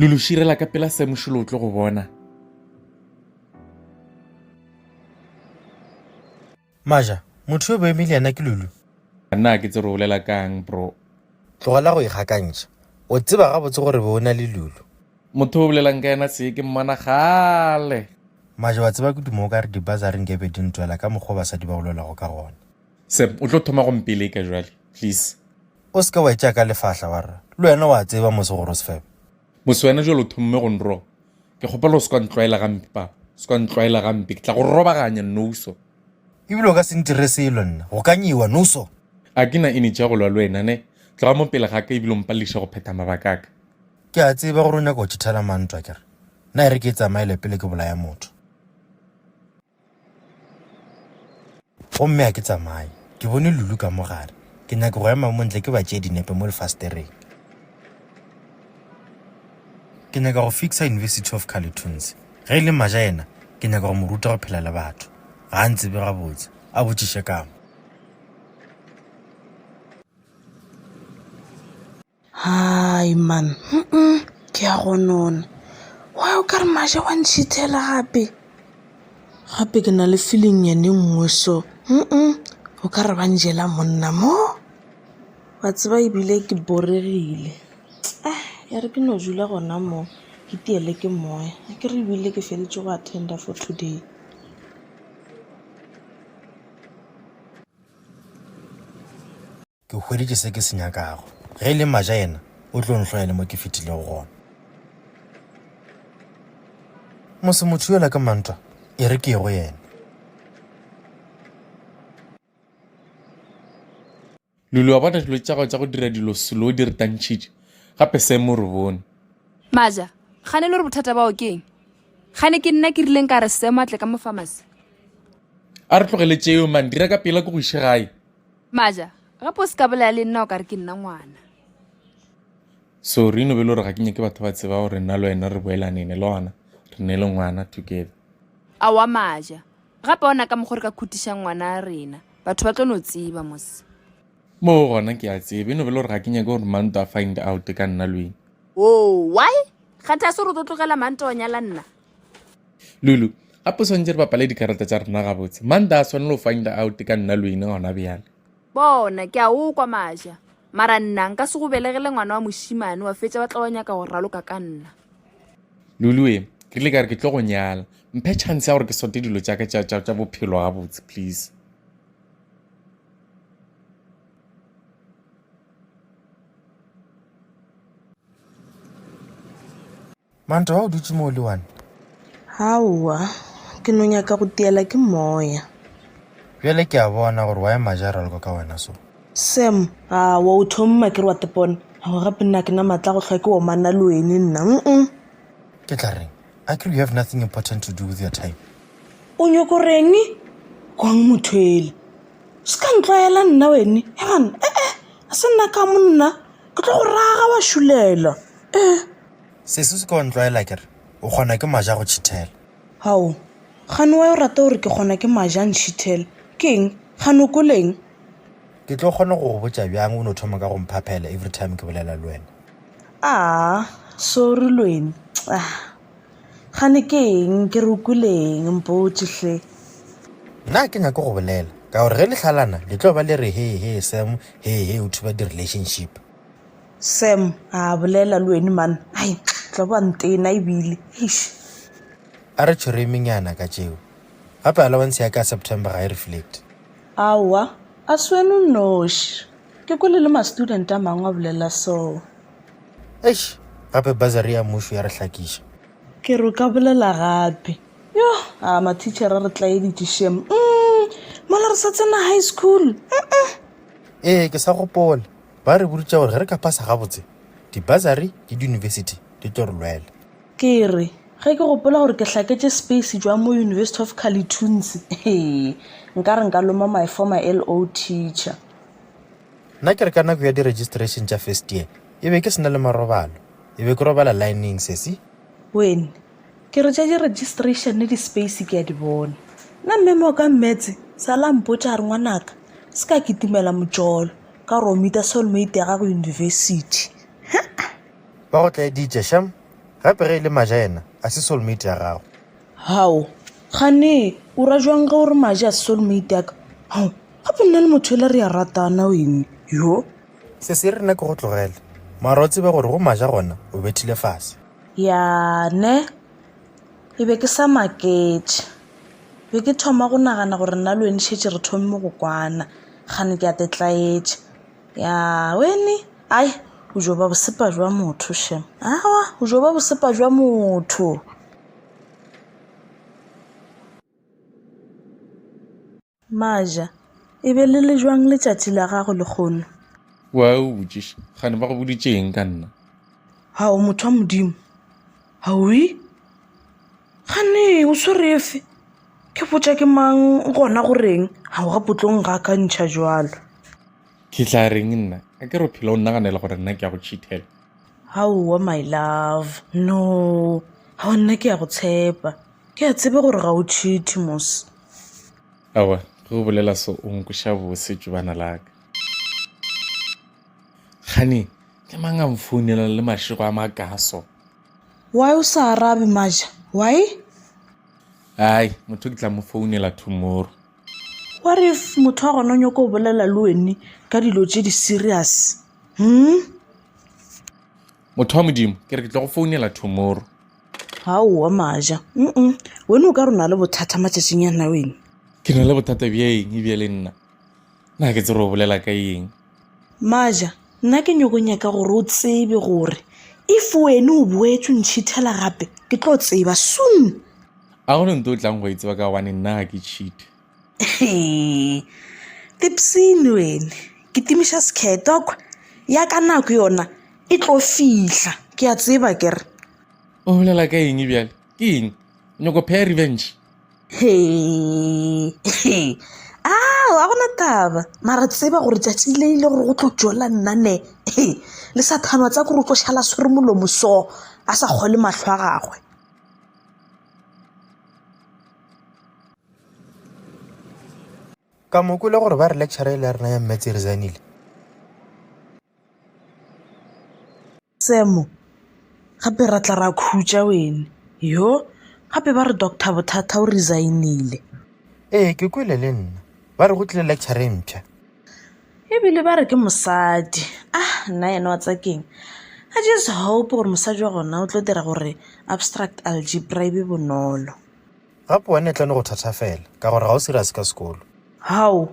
lo lo širela ka pela se mošolo o tlo go bona maja motho yo boeme le yena ke lulu na ke tsere o bolela kang bro tlogela go ikgakantšha o tseba gabotse gore be o na le lulu motho o bolelang ka yena se ke mmona gale maja wa tseba ke dumo o ka re dibazareng ke be di ntwela ka mokgwa basadi ba go lwelago ka gona Sep, o tlo thoma go mpeleka jwale, please. O se ke wa e tšea ka lefahla, wa re, Le wena wa tseba mose gore o sefebe. Mose, wena jwale o thomme go nroba. Ke kgopela o se ke wa ntlwaela gampe, papa. O se ke wa ntlwaela gampe. Ke tla go robaganya, Nouso. Ebile o ka se ntire selo nna. Go ka nyewa, Nouso. A ke na energy ya go lwa le wena, ne? Tloga mo pele ga ka ebile o mpalediša go phetha mabaka a ka. Ke a tseba gore o nyaka go tšhithela mantwa, ke re? Nna e re ke e tsamaele pele ke bolaya motho. Gomme a ke tsamaye. Ke bone Lulu ka mo gare. Ke nyaka go ema mo ntle ke ba tšee dinepe mo lefasetereng. Ke nyaka go fixa University of Carleton's. Ge e le Maja yena, ke nyaka go mo ruta go phela le batho. Ga a ntsebe gabotse. A botšiše ka mo. Hai man, hum-um, ke a go nona. Why o ka re Maja wa nchithela gape? Gape ke na le feeling-nyana e nngwe so, hum-um, o ka re ba njela monna mo. Wa tseba ebile ke boregile. Ah, ya re ke no dula gona mo, ke iteele ke moya. Akere ebile ke feditše go attend-a for today. Ke hweditše se ke se nyakago. Ge e le mmaja yena, o tlo nhloya le mo ke fetilego gona. Mose motho yola ke mantwa, e re ke ye go yena. Lulu, wa bona dilo tša gago tša go dira dilo selo o di retantšhitše, gape Sam o re bone. Mmaja, kgane e le gore bothata bao ke eng? Kgane ke nna ke rileng ka re Sam a tle ka mo pharmacy? A re tlogele tšeo man, dira ka pela ke go iše gae. Maja, gape o se ka bolaya le nna o ka re ke nna ngwana. Sorry, no be le gore ga ke nyake batho ba tseba gore nna le wena re boelanene le gona re ne le ngwana together. Aowa Maja, gape ona ka mokgwa re ka khutišang ngwana a rena. Batho ba tlo no tseba mose. Moo gona ke a tseba, e no be le gore ga ke nyake gore Manto a find out ka nna le wena. Woo, why? Kgatha se gore o tlo tlogela Manto wa nyala nna? lulu gape o swantse re bapale dikarata tša rena gabotse manda a swanele go find out ka nna luine gona bjale bona ke a o kwa maja mara nna nka se go belegele ngwana wa mošimane wa fetša ba tla wa nyaka go raloka ka nna lulu e ke ile ka re ke tlo go nyala mphe chance ya gore ke sote dilo tša ka tša bophelo gabotse please Manta wa o dutše mo le one? Haowa, ke no nyaka go tiela ke moya. Bjale ke a bona gore wa ema ja raloko ka wena so. Sam, a wa o thomma ke re wa tepona. Go gape nna ke na matla go hlwa ke omana le wene nna. Mm. Ke tla reng? I could you have nothing important to do with your time. O nyoko reng? Kwang motho ele. Se ka ntlwaela nna wene. Egan, eh eh, a se nna ka monna. Ke tlo go raga wa shulela. Eh. Sesi, o se ke wa ntlwaela ke re o kgona ke maja go tšhithela. Hao, gane wa yo rata gore ke kgona ke maja ntšhithela. Ke eng? Gane o kwele eng? Ke tlo kgona go go botša bjang o no thoma ka go mphaphela everytime ke bolela le wena? Aa, sorry Lweni. Ah, gane ke eng? Ke re o kwele eng? Mpotše hle. Nna ga ke nyake go bolela, ka gore ge le hlalana le tlo ba le re, Hee, hee, Sam, hee, hee, o thuba di-relationship. Sam, A bolela le weni man, ai, tla ba ntena ebile, eish. A re tšhweremenyana ka tšeo. Gape allowance ya ka ya September ga e reflecte. Aowa, a se wena o nnoši. Ke kwele le ma-student a mangwe a bolela soo. Eish, gape bursary ya mmušo ya re hlakiša. Ke re o ka bolela gape. Yoh, a ma-teacher a re tlaeditše šem. Umm, mola re sa tsena high school, uh-uh. Ee, ke sa gopola. Ba re boditše gore ge re ka phasa gabotse, dibasari le diyunibesithi di tlo re lwela. Ke re, Ge ke gopola gore ke hlaketše space jwang mo University of Kalitunsi, hee, nka re nka loma my former LO teacher. Nna ke re ka nako ya di-registration tša first year, e be ke se na le marobalo. E be ke robala lineng, sesi. Wene, Ke re tša di registration le di space ke a di bona. Nna mme mo ka mmetse sa la mpotša a re ngwanaka se ka kitimela motšolo ka gore o mita soulmate ya gago university. Ba go tlaeditše sham gape ge e le maja yena a se soulmate ya gago. Hao gane o ra jwang ge o re maja a se soulmate ya ka hao gape nna le motho ele re a ratana wene yo. Se se re nna ke go tlogele mara o tsebe gore go maja gona o bethile fase. Ya ne, ke be ke sa maketše. Be ke thoma go nagana gore nna le wena šetše re thommo go kwana, kgane ke a te tlaetša. Ya wene, ai, o jo ba bosepa jwa motho shem. Aowa, o jo ba bosepa jwa motho. Maja, E be le le jwang letšatši la gago lekgono? O a eupša, gane ba go boditšeeng ka nna? Hao motho wa Modimo. Haui? Gane o swere efe? Ke botša ke mang gona go reng? Ga o gapotlong ga ka ntšha jwalo. Ke tla reng nna? A ke re phela o nnaganela gore nna ke ya go tšhithela? Haowa my love, no. Hao nna ke ya go tshepa. Ke a tseba gore ga o tšhithi mos. Aowa, ge o bolela so o nkweša bose tšobana la ka. Kgane ke mang a nfounela le mašego a makaa so? Why o sa arabe Maja? Why? Ai, motho ke tla mo founela tomorrow. What if motho wa gona o nyoko go bolela le wene ka dilo tše di-serious? Motho wa Modimo, ke re ke tla go founela tomorrow. gaowa maja mm wena o ka rona le bothata matšatšing ya nna wena ke na le bothata bja eng e bjale nna na ke tsere o bolela ka eng maja nna ke nyoko nyaka gore o tsebe gore if wene o boetse o ntšhithela gape ke tlo tseba soon a gone nto o tlang go e tseba ka gobane nna ga ke cheat Tipsene wena, kitimiša sekhetwa kwa, ya ka nako yona e tlo fihla, ke a tseba ke re. O bolela ka eng bjale? Ke eng? O nyako pheya revenge? He, he. Ao, a gona taba. Mara tseba gore tšatši le ile gore go tlo tšola nna ne. He, le sa thanwa tsa gore o tlo šala swere molomo so, a sa kgole mahlo a gagwe. ka mo kwele gore ba re lecture e le ya rena ya metse e resignile semo gape ra tla ra khutša wene yo gape ba re doctor bothata o resignile ee ke kwele le nna ba re go tlile lecture e mpšha ebile ba re ke mosadi ah nna yena wa tsakeng i just hope gore mosadi wa gona o tlo dira gore abstract algebra e be bonolo Gape wena e tla no go thathafela, ka gore ga o serious ka sekolo. Hao,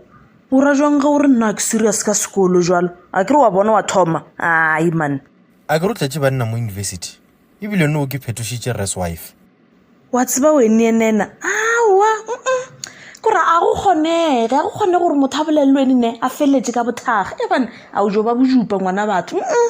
o ra jwang ge o re nna ke serious ka sekolo jwalo? A ke re wa bona wa thoma? Ai man. A ke re o tletše banna mo university? Ebile no ke phetošitše rres wife. Wa tseba wene nena, aowa, mm-mm. Ke gore a go kgonege, ga go kgonege gore motho a bolelelwe ene ne a feletše ka bothakga. Eban, a o jo ba bojupa ngwana batho, mm-mm.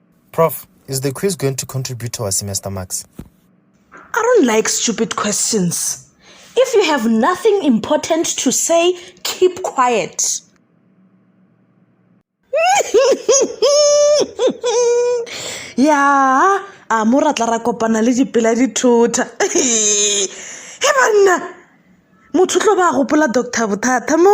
Prof, is the quiz going to contribute to our semester marks? I don't like stupid questions. If you have nothing important to say, keep quiet. ya a mo ra tla ra kopana le dipela dithotha he banna motho tlo ba gopola doctor bothata mo